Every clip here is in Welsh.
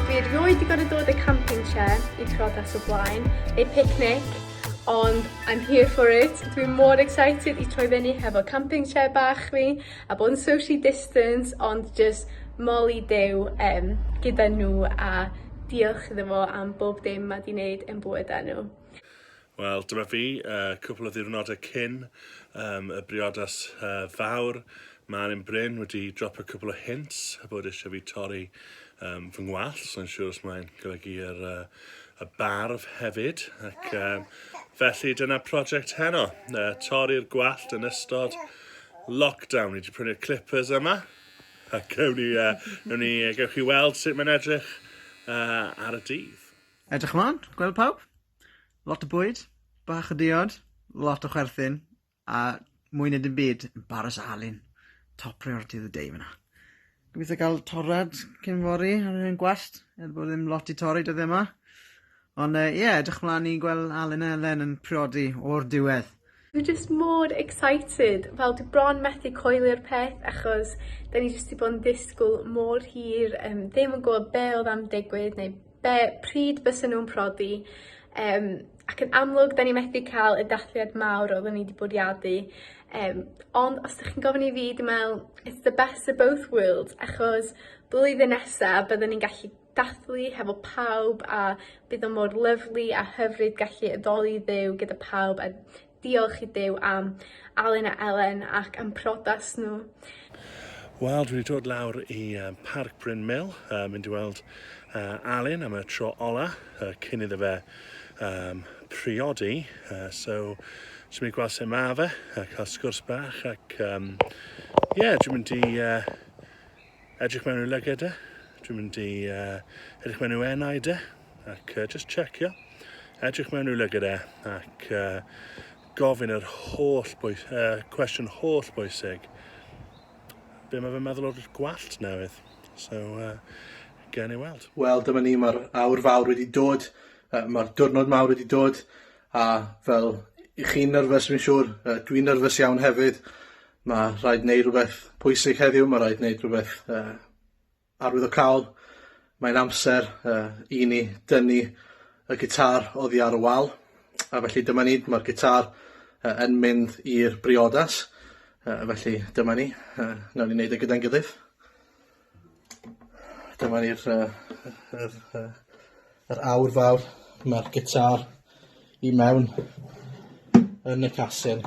Dwi erioed di gorfod dod i'r camping chair i priodas o blaen, neu picnic, ond I'm here for it. Dwi mor excited i troi fyny hefo camping chair bach fi, a bod yn socially distance, ond just moli Duw um, gyda nhw a diolch iddo fo am bob dim mae di wneud yn bywydau nhw. Wel, dyma fi, uh, cwpl o ddiwrnodau cyn um, y briodas uh, fawr. Mae Arin Bryn wedi dropo cwpl o hints a bod eisiau fi torri um, fy ngwallt, so yn siŵr os mae'n golygu yr, uh, y barf hefyd. Ac um, felly dyna prosiect heno, uh, torri'r gwallt yn ystod lockdown. Ni wedi prynu'r clippers yma, ac ewn ni, uh, ewn ni, uh, gewch chi weld sut mae'n edrych uh, ar y dydd. Edrych ymlaen, gweld pawb? Lot o bwyd, bach o diod, lot o chwerthin, a mwy na dim byd, embarrass Alun. Top priority of the day fyna. Gobeithio cael torrad cyn fori ar yr hen gwallt, er bod ddim lot i torri dyddiau yma. Ond ie, uh, yeah, edrych mlaen i gweld Alun a Elen yn priodi o'r diwedd. Dwi jyst mor excited, fel dwi bron methu coelio'r peth achos 'dan ni jyst 'di bod yn disgwl mor hir yym ddim yn gwbod be' odd am digwydd neu be'... Pryd bysa nw'n prodi yym ac yn amlwg 'dan ni methu ca'l y dathliad mawr oddwn i 'di bwriadu yym ond os 'dych chi'n gofyn i fi dwi me'wl it's the best of both worlds achos blwyddyn nesa bydden ni'n gallu dathlu hefo pawb a bydd o mor lyfli a hyfryd gallu addoli Dduw gyda pawb a diolch i Duw am Alun a Elen ac am prodas nhw. Wel, dwi wedi dod lawr i uh, Parc Bryn Mill, uh, mynd i weld uh, Alun am y tro ola, uh, cyn iddo fe um, priodi. Uh, so, dwi'n mynd i gweld sut mae fe, a cael sgwrs bach, ac um, yeah, dwi'n mynd i uh, Edrych mewn i'w lyged e. Dwi'n mynd i uh, edrych mewn i'w enau de. Ac uh, just checio. Edrych mewn i'w lyged e. Ac uh, gofyn yr holl bwys, uh, cwestiwn holl bwysig. Be mae fe'n meddwl o'r gwallt newydd? So, uh, gen i weld. Wel, dyma ni, mae'r awr fawr wedi dod, uh, mae'r diwrnod mawr wedi dod, a fel i chi'n nyrfys, fi'n siŵr, uh, dwi'n nyrfys iawn hefyd, Ma' rhaid neu' rwbeth pwysig heddiw ma' raid neud rwbeth yy arwyddocaol, mae'n amser yy i ni dynnu y gitâr oddi ar y wal, a felly dyma ni, ma'r gitâr yy yn mynd i'r briodas yy felly dyma ni yy nawn ni neud e gyda'n gilydd. Dyma ni'r yy yr yr yy yr awr fawr. Ma'r gitar i mewn yn y casyn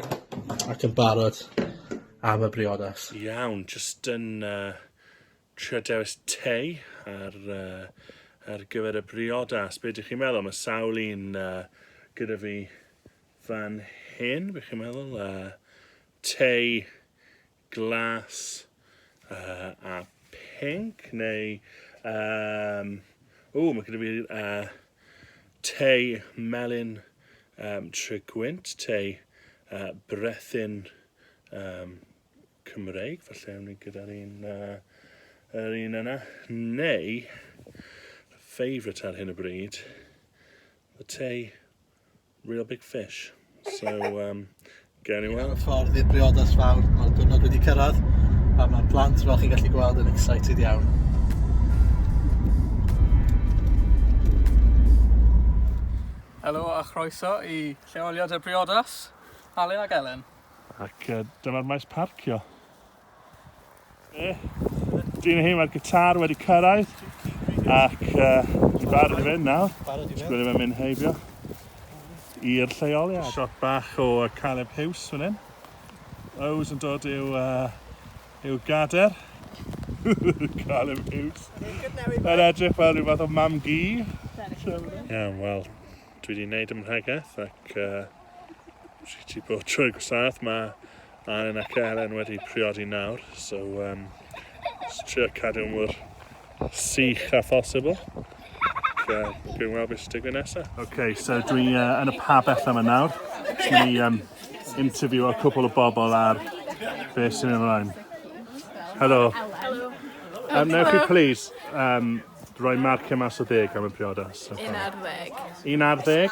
ac yn barod am y briodas. Iawn, jyst yn uh, trio dewis te ar, uh, ar gyfer y briodas. Be ydych chi'n meddwl? Mae sawl un uh, gyda fi fan hyn, bych chi'n meddwl. Uh, te glas uh, a pink neu um, o mae gyda fi uh, te melyn um, trigwynt, te uh, brethyn um, Cymreig, falle ewn ni gyda'r un, uh, yr un yna, neu favourite ar hyn o bryd, y te Real big fish. So, um, gawn ni weld. Ffordd i'r briodas fawr, mae'r diwrnod wedi cyrraedd, a mae'r plant, fel chi'n gallu gweld, yn excited iawn. Helo a chroeso i lleoliad y briodas, Alun ac Elen. Ac uh, dyma'r maes parcio. E, Dyn hyn mae'r gitar wedi cyrraedd ac uh, i barod i fynd nawr. Sgwyd i'n mynd heibio i'r lleoliad. Shot bach o Caleb Hughes fan hyn. Ows yn dod i'w, uh, i'w gader. Caleb Hughes. Mae'n edrych fel rhyw fath o mam gi. Iawn, wel, dwi wedi gwneud ymhregaeth ac uh, rhi ti bod trwy gwsaeth. Mae Anwen ac Elen wedi priodi nawr, so um, trio cadw mor sych a phosibl. Uh, Gwyn weld beth sy'n digwydd nesaf. OK, so dwi uh, yn y pabell yma nawr. Dwi'n i um, interview o cwpl o bobl ar beth sy'n ymlaen. Helo. Helo. Um, newch chi please um, Rhoi marciau mas o ddeg am y priodas. Un ar ddeg. Un ar ddeg?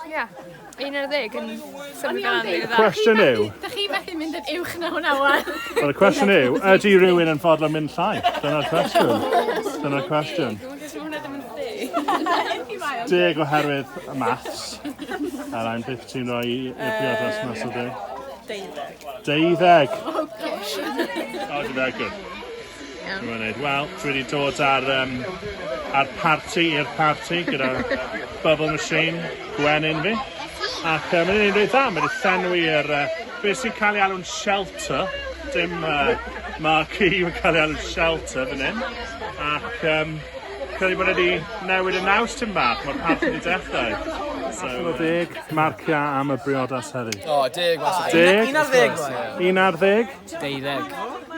Ia. Un ar ddeg yn symud ar anrhyw dda. Cwestiwn yw... Da chi methu mynd yn uwch na hwnna wan. Wel, y cwestiwn yw, ydy rhywun yn fodlon mynd llai? Dyna'r cwestiwn. Dyna'r cwestiwn. Deg oherwydd y maths. A rhaid beth ti'n rhoi i'r priodas mas o ddeg? Deuddeg. Deuddeg. Oh, gosh. Oh, did that good. Iawn. Mae'n neud. Wel, dwi wedi dod ar, um, ar party i'r party gyda Bubble Machine, gwenyn fi. Ac uh, mae'n neud dda, mae'n llenwi i'r... Uh, beth sy'n cael ei alw'n shelter, dim uh, marquee, mae'n cael ei alw'n shelter fan hyn. Ac um, credu bod wedi newid y naws tyn bach, mae'r parth wedi dechrau. So, Allan o deg, marciau am y briodas heddi. O, deg, mas o deg. Un ar ddeg, Un ar ddeg? Deuddeg.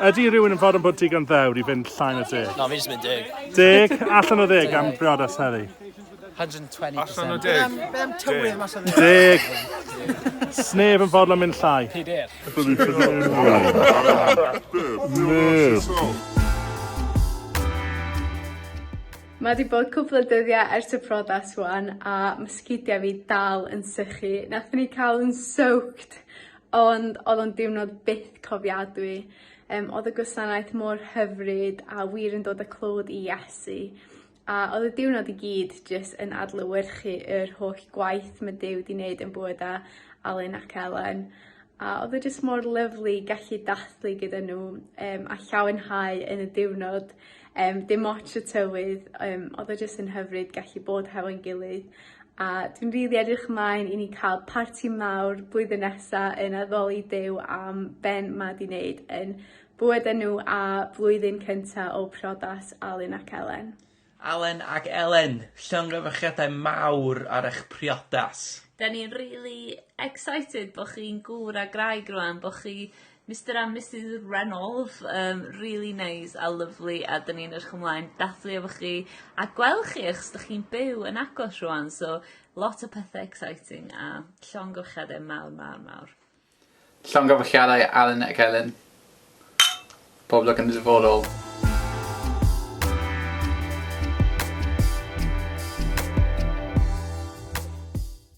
Ydy rhywun yn fod yn bod digon ddewr i fynd llai na deg? Na, fi jyst mynd deg. Deg? Allan o ddeg am briodas heddi? 120%. Allan o deg? Be am tywydd mas o dde? Deg. Sneb yn fodlon mynd llai. Pedair. Mae wedi bod cwpl o dyddiau ers y priodas wan a ma' sgidia fi dal yn sychu. Nathon ni ca'l yn soaked Ond oedd o'n diwrnod byth cofiadwy. Yym oedd y gwasanaeth mor hyfryd a wir yn dod â clod i Iesu. A oedd y diwrnod i gyd jyst yn adlewyrchu yr holl gwaith mae Duw 'di wneud yn bywydau Alun ac Elen. A oedd e jyst mor lyfli gallu dathlu gyda nhw um, a llawenhau yn y diwrnod Yym dim ots y tywydd yym odd o jyst yn hyfryd gallu bod hefo'n gilydd a dwi'n rili edrych mlaen i ni ca'l parti mawr blwyddyn nesa yn addoli Duw am ben 'ma 'di neud yn bywydau nhw a blwyddyn cynta o priodas Alun ac Elen. Alun ac Elen, llongyfarchiadau mawr ar eich priodas. 'Da ni'n rili excited bo' chi'n gŵr a graig rŵan bo' chi Mister and Misus Reynolds yym rili neis a lyfli a 'dyn ni'n edrych ymlaen dathlu efo chi a gwel' chi achos 'dych chi'n byw yn agos rŵan so lot o pethe exciting a llongyfarchiade mawr mawr mawr. Llongyfarchiadau Alun ac Elin. Pob lwc yn y dyfodol.